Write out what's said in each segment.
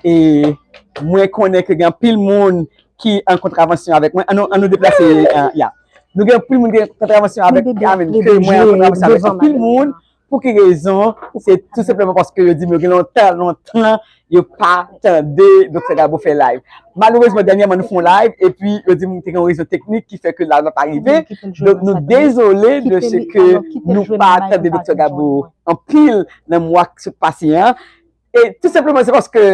E mwen konnen ke gen anpil moun ki an kontravansyon avèk mwen. An nou deplase, ya. Nou gen anpil moun ki an kontravansyon avèk mwen. Mwen an kontravansyon avèk anpil moun. Pou ki rezon? Se tout sepleman paske yo di mwen gen lontan, lontan Yo pa tande Doktè Gabo fè live. Malerezman dènyèman nou fè yon live epi yo di m te gen yon rezon teknik ki fè ke live la pa rive. Donk nou dezole de se ke nou pa tande Doktè Gabo anpil nan mwa k sot pase an. E tou senpleman se paske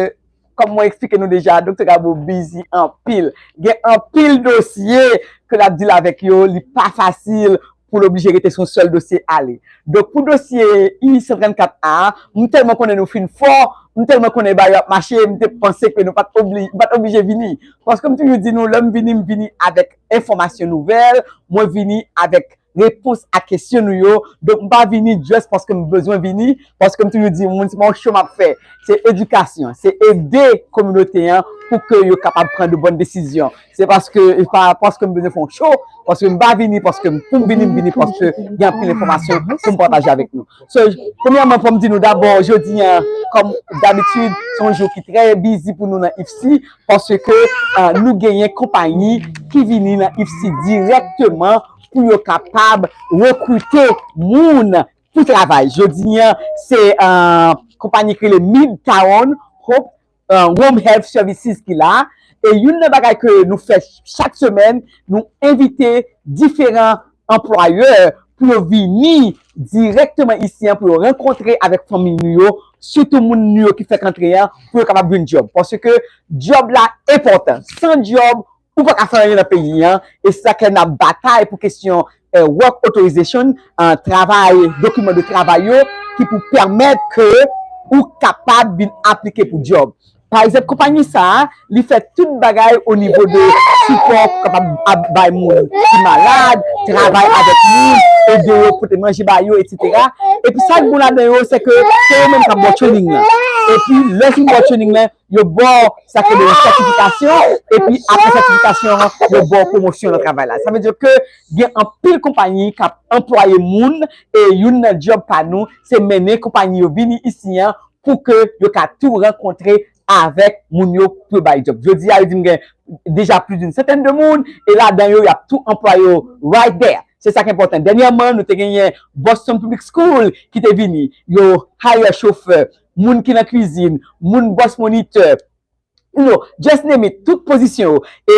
kòm mwen eksplike nou deja Doktè Gabo bizi anpil. Gen anpil dosye ke l ap dil avèk yo, li pa fasil pou l oblije rete sou yon sèl dosye ale. Donk pou dosye I 134 A a, m tèlman konnen nou fin fò, m tèlman konnen bagay yo ap mache, m te panse ke nou pa t oblije vini. Paske m toujou di nou lè m vini, m vini avèk enfòmasyon nouvèl, mwen vini avèk repons a kesyon nou yo, donk m pa vini just paske m bezwen vini, paske m toujou di moun se pa yon show m ap fè, se edikasyon, se ede kominote an pou ke yo kapab pran de bòn desizyon. Se paske e pa paske m bezwen fè yon show, paske m pa vini paske m pou m vini, m vini paske gen anpil enfòmasyon pou m pataje avèk nou. So, premyèman fò m di nou dabò jodi an kòm dabitid se yon jou ki trè bizi pou nou nan IFC paske nou genyen konpayi ki vini nan IFC dirèkteman pou yo kapab rekrite moun pou travay. Jodi an se konpayi ki rele Midtown Hope Home Health Services ki la e youn nan bagay ke nou fè chak semèn nou envite diferan anplwayè pou yo vini dirèkteman isi an pou yo rankontre avèk fanmiy nou yo sitou moun nou yo ki fèk antre an pou yo kapab jwenn djòb paske djòb la enpòtan san djòb Ou pa ka fè anyen nan peyi an, e se sak fè n ap batay pou kesyon work authorization, travay, dokiman de travay yo ki pou pèmèt ke ou kapab vin aplike pou djòb. Pa egzanp konpanyi sa a, li fè tout bagay o nivo de sipò pou kapab ap bay moun ki malad, travay avèk moun, ede yo pote manje ba yo, etsetera. Epi sa k bon ladan yo se ke se yo menm k ap ba w trening lan. Epi lè w fin ba w trening lan, Yo ba w sa ki rele yon sètifikasyon, epi apre sètifikasyon an, yo ba w pwomosyon nan travay la. Sa vle di ke gen anpil konpayi k ap anplwaye moun, e youn nan djòb pa nou, se mennen konpayi yo vini isi an pou ke yo ka tou rankontre avèk moun yo pou yo ba yo djòb. Jodi a, yo di m gen deja plis doun santèn de moun, e ladan yo, y ap tou anplwaye yo right there. Se sa k enpòtan. Dènyèman, nou te genyen Boston Public School ki te vini, yo hire chofè. moun ki nan kwizin, moun bòs monitè, you know, just name it, tout pozisyon yo, e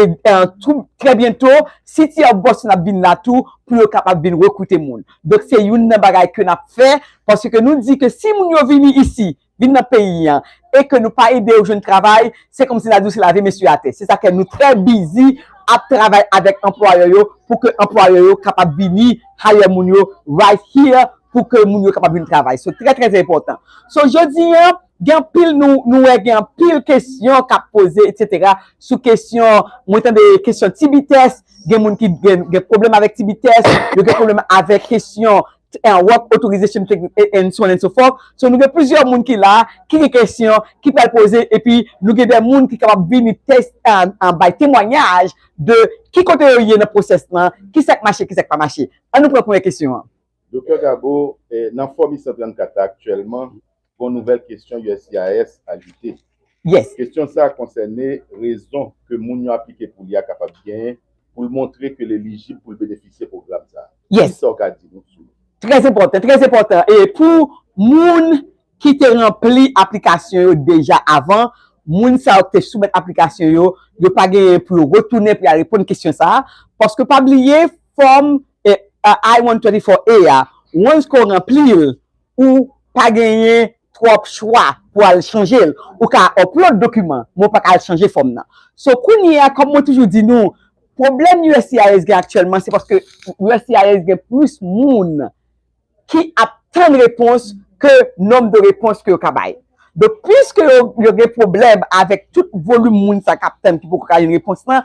tou trè byento City of Boston ap vin la tou pou yo kapab vin rekrite moun. Donk se youn nan bagay ke n ap fè, paske nou di ke si moun yo vini isi, vin nan peyi an, e ke nou pa ede yo jwenn travay, se kòmsi n a di yo se lave mesye atè. Se sa fè nou trè bizi ap travay avèk anplwayè yo pou ke anplwayè yo kapab vini hire moun yo right here, pou ke moun yo kapab vin travay. Se trè trè enpòtan. So jodi an, gen anpil nou nou wè gen anpil kesyon k ap poze etsetera sou kesyon mwen tande kesyon ti bitès, gen moun ki gen gen pwoblèm avèk ti bitès, yo gen pwoblèm avèk kesyon work authorization and so on and so forth. So nou gen plizyè moun ki la ki gen kesyon ki pral poze epi nou gen de moun ki kapab vini tes a bay temwanyaj de ki kote yo ye nan pwosès lan, ki sa k mache, ki sa k pa mache. An nou pran premyè kesyon an. Doktè Gabo, nan fòm 834 la aktyèlman, gon nouvèl kesyon uscis ajoute. Kesyon sa konsène rezon ke moun yo aplike pou li a kapab genyen pou l montre ke l elijib pou l benefisye pwogram sa. Ki sa w ka di nou sou li? Trè enpòtan, trè enpòtan. E pou moun ki te ranpli aplikasyon yo deja avan, moun sa yo ki te soumèt aplikasyon yo, yo pa genyen pou yo retounen pou y al reponn kesyon sa. Paske pa bliye, Fòm I-134A a, once ke w ranpli l, ou pa genyen twòp chwa pou al chanje l. Ou ka upload dokiman, men w pa ka al chanje fòm nan. So, kounye a, kòm mwen toujou di nou, pwoblèm uscis gen aktyèlman, se paske uscis gen plis moun ki ap tann repons ke nonm de repons ke yo ka bay. Donk, piske yo gen pwoblèm avèk tout volim moun sa k ap tann ki poko ka jwenn repons lan,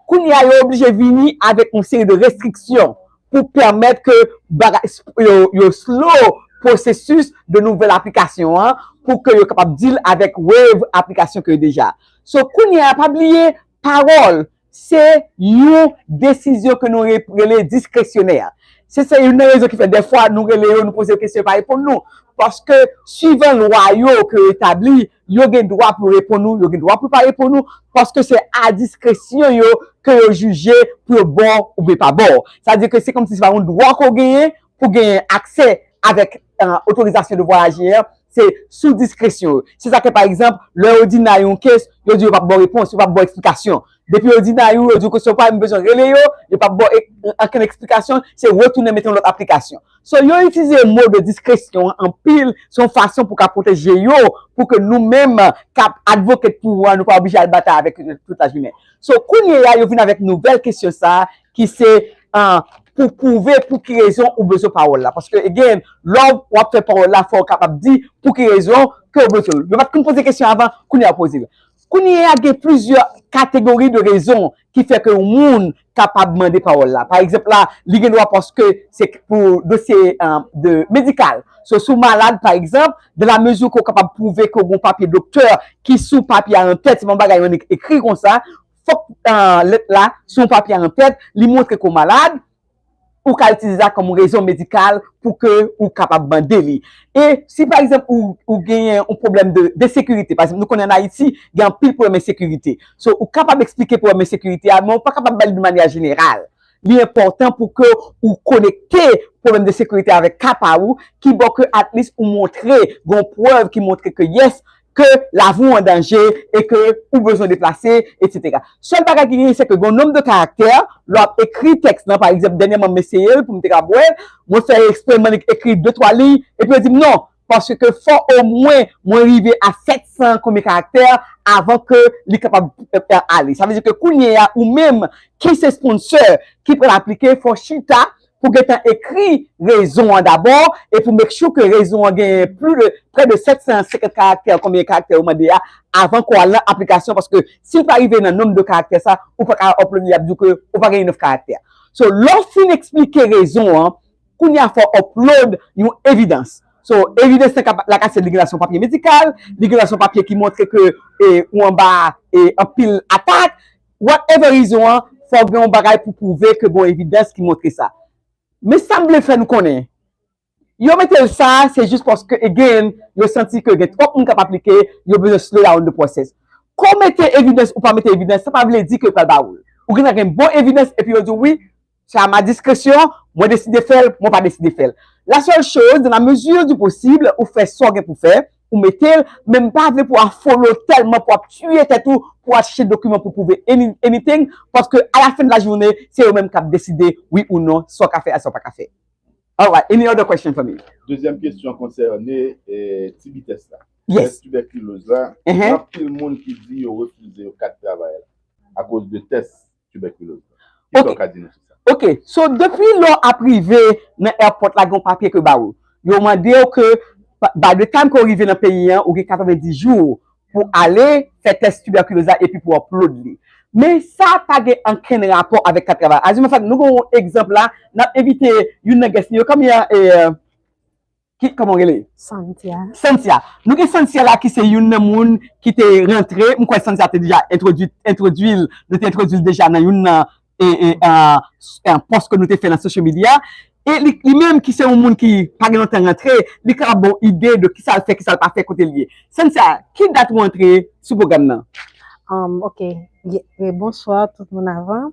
kounye a yo oblije vini avèk yon seri de restriksyon pou pèmèt ke bagay, yo slow pwosesis de nouvèl aplikasyon an pou ke yo kapab deal avèk wave aplikasyon ke yo deja. So, kounye a pa bliye pawòl Se yon desizyon ke nou rele diskresyonè. Se se youn nan rezon ki fè dèfwa nou rele yo, nou poze yo kesyon yo pa reponn nou. Paske swivan lwa yo ke yo etabli, yo gen dwa pou yo reponn ou, yo gen dwa pou yo pa reponn ou, paske se a diskresyon yo ke yo jije pou yo ba w oubyen pa ba w. Sa di ke se kòmsi se pa yon dwa ke w genyen pou w genyen aksè avèk otorizasyon de vwayaje an, Se sou diskresyon yo. Se sa k fè pa egzanp, lè yo di Nayou kes, yo di yo p ap ba w repons, yo p ap ba w eksplikasyon. Depi yo di Nayou, yo di w kesyon w pa menm bezwen rele yo, yo p ap ba w ankenn eksplikasyon, se retounen mete yon lòt aplikasyon. So yo itilize mo de diskresyon an anpil, se yon fason pou ka pwoteje yo, pou ke nou menm k ap advocate pou yo an, nou pa oblije al batay avèk yo tout lajounen. So kounyeya yo vin avèk nouvèl kesyon sa a, ki se pou pwouve pou ki rezon ou bezwen pawòl la, paske again lè w ap fè pawòl la fò w kapab di pou ki rezon ke w bezwen l, yo pat konn poze kesyon avan kounye a yo poze l, kounye a gen plizyè kategori de rezon ki fè ke yon moun kapab mande pawòl la, pa egzanp la li gen dwa paske se pou dosye de medikal, so si w malad pa egzanp dan la mezi ke w kapab pwouve ke w gen yon papye doktè ki sou papye a antèt se pa yon bagay ekri konsa, Fòk lèt la sou yon papye an tèt, li montre ke w malad, ou ka itilize sa kòm rezon medikal pou ke ou kapab mande li. E si pa egzanp ou genyen yon pwoblèm de ensekirite, pa egzanp nou konnen an Ayiti gen anpil pwoblèm ensekirite, so ou kapab eksplike pwoblèm ensekirite a men ou pa kapab ba li dmanya jeneral. Li enpòtan pou ke ou konekte pwoblèm de ensekirite avèk ka pa ou, kibò ke at least ou montre gen yon prèv ki montre ke yes ke lavi w an danje e ke ou bezwen deplase, etsetera. Sèl bagay ki genyen se ke gen yon nonb de karaktè lè w ap ekri tèks lan. Pa egzanp, dènyèman m eseye l pou m te kab wè l, mwen fè ekspre m annik ekri de twa liy epi yo di m non, paske ke fò omwen mwen rive a sèt san konbyen karaktè avan ke li kapab ale. Sa vle di ke kounyeya ou menm ki se sponsè ki pral aplike fò w chita pou gentan ekri rezon an dabò e pou make sure ke rezon an genyen pli de prè de 750 karaktè konbyen karaktè yo mande a avan ke w al nan aplikasyon paske si l pa rive nan nonb de karaktè sa ou pa ka upload li y ap di w ke ou pa gen enough karaktè so lè w fin eksplike rezon an kounye a fò w upload yon evidans so evidans lan kap la ka se li gen la se yon papye medikal li gen la se yon papye ki montre ke ou anba anpil atak Whatever reason an, fòk gen yon bagay pou pwouve ke gon evidans ki montre sa. Men sa m vle fè nou konnen, yo mete l sa se jis paske again yo santi ke gen twòp moun k ap aplike, yo bezwen slow down the process. Ke w mete evidans ou pa mete evidans sa pa vle di ke yo pral ba ou l. Ou gen dwa gen bon evidans epi yo di w wi, Se a ma discretion, mwen deside fè l, mwen pa deside fè l. La seule chose, dans la mesure du possible, ou fè sa w gen pou w fè, ou mete l, men m pa vle pou w afole w tèlman pou w ap tiye tèt ou pou w al chèche dokiman pou w pwouve anything, paske a la fin de la journée, se yo menm k ap deside wi ou non sa w ka fè ak sa w pa ka fè. Alright, any other question for me? Dezyèm kesyon konsène ti vitès la. Tès tibèkiloz la, gen anpil moun ki di yo refize yo kat travay la akoz de tès tibèkiloz la. Kisa ou ka di nou sou sa? Ok, so depi lè ou ap rive nan èpòt la gen yon papye ke yo ba ou. Yo mande ou ke by the time ke ou rive nan peyi an ou gen 90 jou pou ale fè tès tibèkiloz la epi pou upload li. Men sa pa gen ankenn rapò avèk kat travay. As a matter of fact, nou gen yon egzanp la, n ap envite youn nan guest nou yo, kòmye a? Ki koman w rele? Santia. Santia. Nou gen Santia la ki se youn nan moun ki te rantre, m kwè Santia te deja entwodui, entwodui l, nou te entwodui l deja nan youn nan e, e, an, pòs ke nou te fè nan social media. E li, li menm ki se yon moun ki pa gen lontan rantre, li ka ap ba w ide de kisa l fè, kisa l pa fè, kote l ye. Santia, ki dat ou antre sou pwogram nan? Am, ok. Bonswa tout moun avan.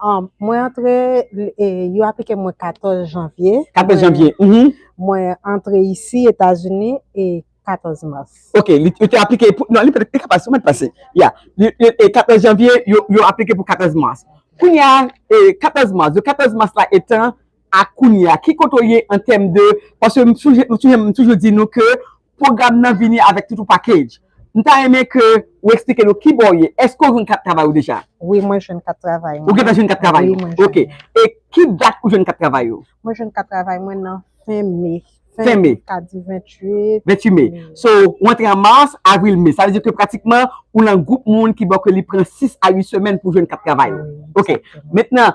Um, mwen antre, e, yo aplike mwen 14 janvye. 14 janvye, mhm. Mwen antre isi, Etazini, e 14 mas. Ok, li yo te aplike pou, non, li pa te pase, mwen te pase. Ya, li, li, e 14 janvye, yo, yo aplike pou 14 mas. Kounye a, e 14 mas, de 14 mas la etan a kounye a, ki kote ou ye an tèm de, paske m souje, m souje, m toujou di nou ke Program nan vini avèk tout yon package. M ta renmen ke ou eksplike nou kibò ou ye. Eske ou jwenn kat travay ou deja? Wi mwen jwenn kat travay mwen. Ou gentan jwenn kat travay ou? Ok. E ki dat ou jwenn kat travay ou? Mwen jwenn kat travay mwen nan fen me. Fen me. Ka di 28. 28 me. So ou antre an mars, avril, me. Sa vle di ke pratikman ou lan gwoup moun ki bò ke li pran 6 a 8 semèn pou jwenn kat travay ou. Ok. Mentnan,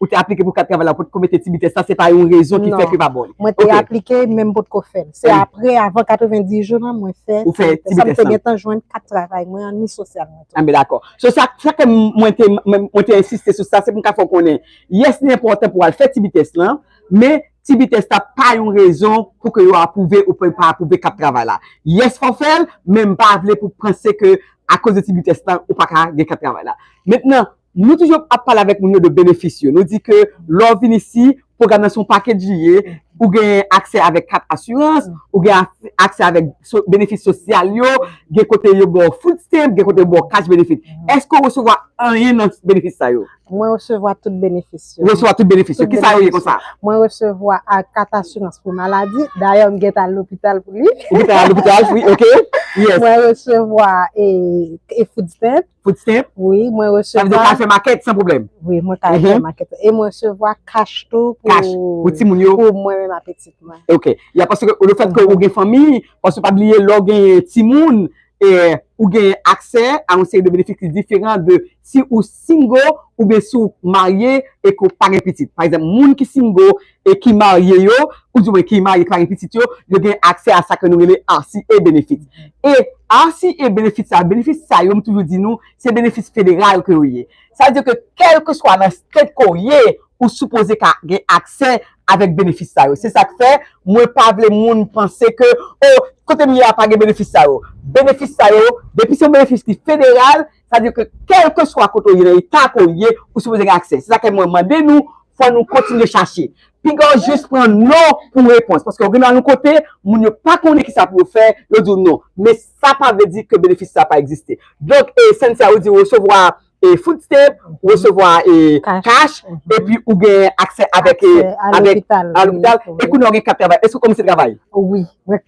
Ou te aplike pou kat travay la ou potko mete ti bitès la se pa yon rezon ki fè ke pa bon li. Non, mwen te aplike men m potko fè l. Se apre avan 90 jou lan mwen fè ti bitès la. Sa m te gentan jwenn kat travay mwen an ni sosyal mwen tou. Anben dakò. So sa ki fè mwen te mwen te ensiste sou sa se pou m ka fè w konnen yes li enpòtan pou w al fè ti bitès lan men ti bitès la pa yon rezon pou ke yo apwouve ou byen pa apwouve kat travay la. Yes fò w fè l men m pa vle pou w panse ke akoz de ti bitès lan ou pa ka gen kat travay la. Mentnan. Nou toujou ap pale avèk moun yo de benefis yo. Nou di ke lè w vin isi, pwogram nan se yon pakej li ye. Ou gen aksè avèk kat asirans, ou gen aksè avèk benefis sosyal yo, gen kote yo ba w food stamp, gen kote yo ba w cash benefit. Èske ou resevwa anyen nan benefis sa yo? Mwen resevwa tout benefis yo. Ou resevwa tout benefis yo. Kisa yo ye konsa? Mwen resevwa kat asirans pou maladi. Dayè m gentan al lopital pou li. Ou gentan al lopital pou li, ok. Mwen resevwa food stamp. Food stamp? Wi, mwen resevwa. Sa vle di ou ka al fè makèt san pwoblèm? Wi, mwen ka al fè makèt. E mwen resevwa kach tou pou. Kach pou timoun yo? Pou mwen menm ak pitit mwen. Ok. Y a paske le fèt ke ou gen fanmi, paske pa bliye lè ou genyen timoun, ou genyen aksè a yon seri de benefis ki diferan de si ou single oubyen si ou marye e ke ou pa gen pitit. Pa egzanp, moun ki single e ki marye yo, ou di mwen ki marye ki pa gen pitit yo, yo gen aksè a sa ke nou rele RCA benefits. E RCA benefits sa, benefis sa yo m toujou di nou, se benefis federal ke yo ye. Sa vle di ke kèlkeswa nan state ke w ye, ou sipoze ka gen aksè avèk benefis sa yo. Se sa k fè, mwen pa vle moun panse ke, oh, kote m ye a pa gen benefis sa yo. Benefis sa yo, depi se yon benefis ki federal, Sa vle di ke kèlkeswa kote ou ye, nan eta ke ou ye, ou sipoze gen aksè. Se sa ke mwen mande nou, fò nou kontinye chache. Pinga ou jis pran non pou repons. Paske ou vin nan yon kote, moun yo pa konnen kisa pou yo fè, yo di ou non. Men sa pa vle di ke benefis sa pa egziste. Donk, Cynthia, ou di ou resevwa food stamp, ou resevwa cash, epi ou gen aksè avèk, a lopital, e kounye a ou gen kat travay. Èske ou kòmanse travay? Wi.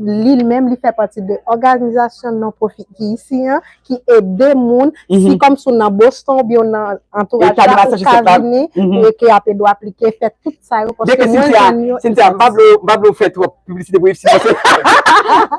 Li menm li fè pati de òganizasyon non pwofit ki isi an, ki ede moun, si kòm si w nan Boston oubyen w nan antouraj la, ou ka vini pou eke a pe dwe aplike, fè tout sa yo, paske mwen jwenn yo. Cynthia, m pa vle w, m pa vle w fè twòp piblisite pou IFSI paske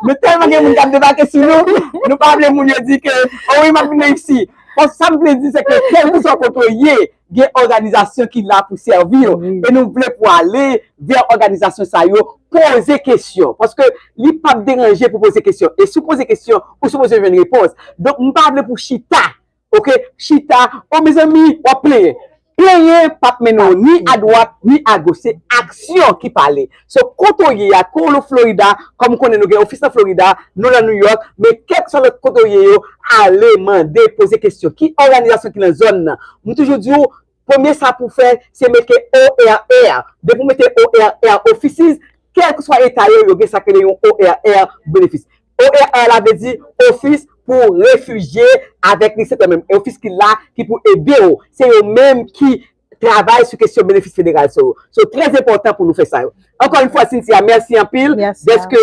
nou tèlman gen moun k ap debake sou nou, nou pa vle moun yo di ke, o wi m ap vin nan IFSI. Bon, sa m vle di se ke kèlkeswa kote w ye, Gen òganizasyon ki la pou sèvi yo e nou vle pou ale vè òganizasyon sa yo, poze kesyon paske li p ap deranje pou poze kesyon e si w poze kesyon ou sipoze jwenn repons donk m pa vle pou chita ok chita o mezanmi w ap plenyen plenyen p ap mennen w ni adwat ni agoch se aksyon ki pale. So kote w ye a, ke w lo Florida, kòm m konnen nou gen ofis nan Florida, nou lan New York, men kèlkeswa lòt kote w ye yo, ale, mande, poze kesyon. Ki òganizasyon ki nan zòn nan? M toujou di w, premye sa pou w fè, se mete ORR. Depi w mete ORR, Offices, kèlkeswa eta yo, yo gen sa k rele yon ORR benefis. ORR la vle di ofis pou refijye avèk li se tè menm. Ofis ki la, ki pou ede w. Se yo menm ki travay sou kesyon benefis federal sa yo. So trè enpòtan pou nou fè sa yo. Ankò yon fwa Cynthia mèsi anpil dèske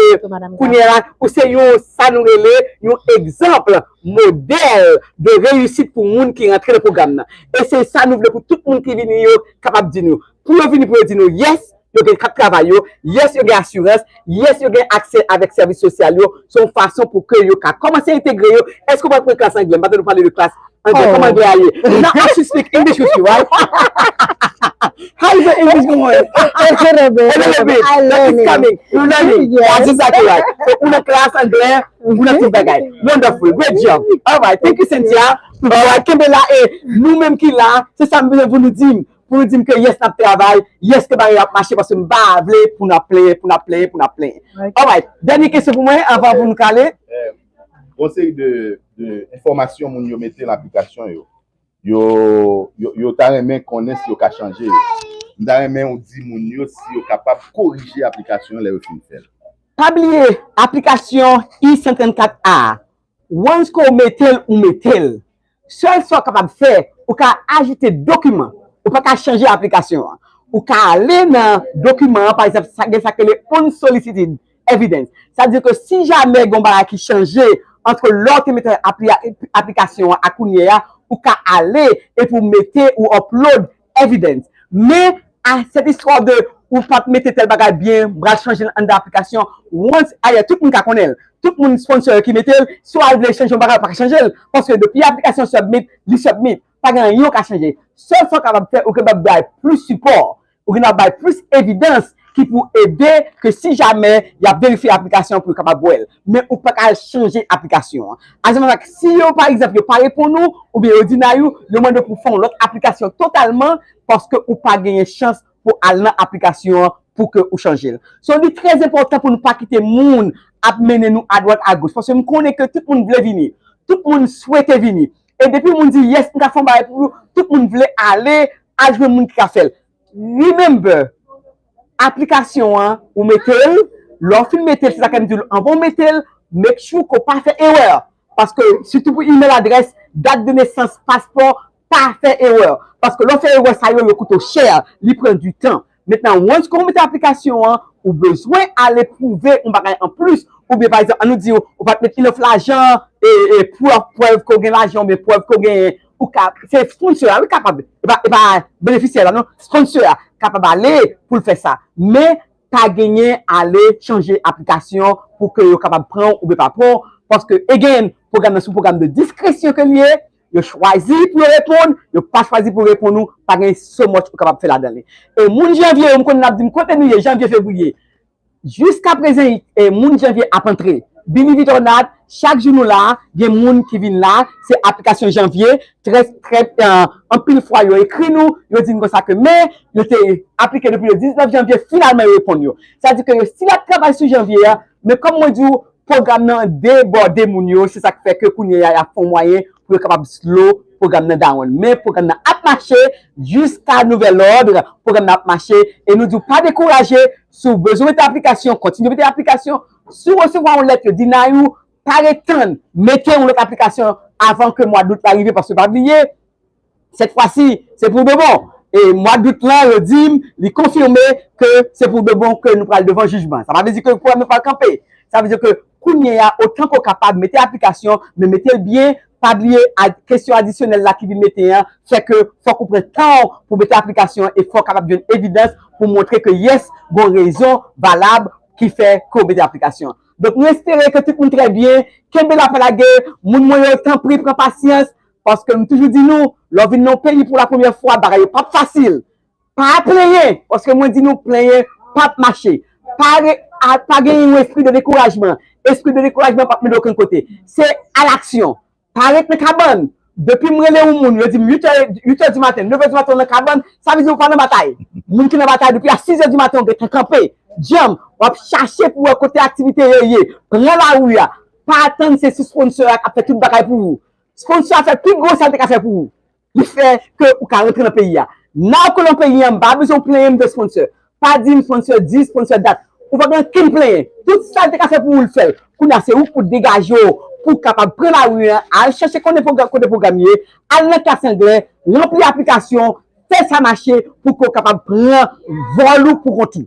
kounye a ou se yon sa nou rele yon egzanp modèl de reyisit pou moun ki rantre nan pwogram nan. E se sa nou vle pou tout moun ki vini yo kapab di nou. Pou yo vini pou yo di nou yes. yo gen kat travay yo, yes yo gen asirans, yes yo gen aksè avèk sèvis sosyal yo, se yon fason pou ke yo ka kòmanse entegre yo, èske ou pral pran klas anglè, m pa tande ou pale de klas anglè, kòman anglè a ye, now I should speak English with you right? How is your English going? It's a little bit, a little bit, I learning, it's coming, you learning, that's exactly right, so ou nan klas anglè, ou nan tout bagay, wonderful, great job, alright, thank you Cynthia, alright, kenbe la e, nou menm ki la, se sa m vle pou nou di m, pou nou dim ke yes nap travay, yes ke bagay yo ap mache paske m pa vle pou nap plenyen, pou nap plenyen, pou nap plenyen. Alright, dènye kesyon pou mwen avan pou nou kale. Gon seri de enfòmasyon moun yo mete lan aplikasyon yo, yo ta renmen konnen si yo ka chanje yo. M ta renmen ou di moun yo si yo kapab korije aplikasyon yo lè yo fin fè l. Pa bliye aplikasyon I-134 a, Once ke w mete l, ou mete l. Sèl sa w kapab fè, ou ka ajoute dokiman. Ou pa ka chanje aplikasyon an. Ou ka ale nan dokiman an, pa egzanp, sa gen sa ki rele unsolicited evidence. Sa vle di ke si jamè gen yon bagay ki chanje antre lè w te mete aplikasyon an ak kounye a, ou ka ale epi w mete, ou upload Evidence. Men, ah cette histoire de ou pat mete tel bagay byen m pral chanje l anndan aplikasyon once ayè tout moun ka konnen l, tout moun sponsor yo ki mete l, si w al vle chanje yon bagay ou pa ka chanje l paske depi aplikasyon submit li submit pa gen anyen ou ka chanje. Sèl sa ou kapab fè ou kapab bay plis sipò, ou gen dwa bay plis evidans ki pou ede ke si jamè y ap verifye aplikasyon an pou yo kapab wè l. Men ou pa ka al chanje aplikasyon an. Azamazak, si yo pa egzanp yo pa reponn ou, oubyen yo dinay ou, yo mande w pou w fè yon lòt aplikasyon totalman paske ou pa genyen chans pou al nan aplikasyon an pou ke ou chanje l. So li trè enpòtan pou nou pa kite moun ap mennen nou adwat agoch paske m konnen ke tout moun vle vini, tout moun swete vini. E depi moun di yes m ka fè yon bagay pou ou, tout moun vle ale, al jwenn moun ki ka fè l. Remember aplikasyon an ou metel lè ou fin metel se sa kem diw anvan ou metel make sure ke ou pa fè erè paske sitou pou email adrès dat de nesans paspò pa fè erè paske lè ou fè erè sa yo yo koute ou chè li pran du tan mentnan once ke ou mete aplikasyon an ou bezwen ale pwouve yon bagay anplis oubyen pa egzanp an nou di ou pat met enough lajan e prèv ke ou gen lajan oubyen prèv ke ou gen pou ka, se sponsor a wi kapab, e pa benefisyè la non, sponsor a kapab ale pou l fè sa, men pa genyen ale chanje aplikasyon pou ke yo kapab pran w oubyen pa pran w, paske again, pwogram nan se yon pwogram de diskresyon ke li ye, yo chwazi pou yo reponn, yo pa chwazi pou reponn ou, pa gen so much ou kapab fè ladan li. E moun janvye yo m konnen n ap di m kote nou ye janvye fevriye, Jiska prezen moun janvye ap antre bini vit ornat chak jou nou la gen moun ki vin la se aplikasyon janvye trè trè anpil fwa yo ekri nou yo di n konsa ke men yo te aplike depi le 19 janvye finalman yo reponn yo sa di ke yo stil ap travay sou janvye men kòm mwen di w Pwogram nan debòde moun yo, se sak fè ke kounye a yap fon mwayen pou yo kapab slow pwogram nan down. Men pwogram nan ap mache jiska nouvèl lòdre, pwogram nan ap mache e nou diw pa dekouraje, si w bezwen mete aplikasyon kontinye mete aplikasyon, si w resevwa yon lèt yo deny ou, pa ret tann, mete yon lòt aplikasyon avan ke mwa dout la rive paske pa bliye, Sèt fwa si, se pou de bon! E mwa dout lan, yo di m, li konfime ke se pou de bon ke nou pral devan jijman. Sa pa vle di ke pwoblèm nan pral kanpe. Sa vle di ke kounye a, otan ke w kapab, mete aplikasyon, men mete l byen, pa bliye kesyon adisyonèl la ki vin mete an, fè ke fòk ou pran tan w pou mete aplikasyon an e fò w kapab jwenn evidans pou montre ke yes, gon rezon valab ki fè ke w mete aplikasyon an. Donk nou espere ke tout moun trè byen. Kenbe la pa lage! Moun mwen yo, tanpri pran pasyans, Paske m toujou di nou, lè w vin nan yon peyi pou la premyè fwa, bagay yo pap fasil. Pa plenyen, paske mwen di nou plenyen pap mache. Pa gen yon espri de dekourajman. Espri de dekourajman pap mennen okenn kote. Se a l'action. Pa ret nan kabann. Depi m rele yon moun, yo di m 8 è di maten, 9 è di maten ou nan kabann, sa vle di ou pa nan batay. Moun ki nan batay depi a 6 è di maten ou gentan kanpe, djanm, wap chache pou wè kote aktivite yo ye. Pran lari a. Pa atann se sisponnsè a kap fè tout bagay pou ou. Sponsor a fè pi gwo sa l te ka fè pou ou. Li fè ke ou ka rantre nan peyi a. Now ke w nan peyi an, m pa bezwen w plenyen m de sponsor. Pa di m sponsor dis, sponsor dat. Ou pa gen ankenn plenyen. Tout sa l te ka fè pou ou, l fè l. Kounye a se ou k pou degaje w pou w kapab pran lari an, al chèche konnen pwogram kote pwogram ye, al nan klas anglè, ranpli aplikasyon, fè sa mache pou ke w kapab pran vòl ou pou kont ou.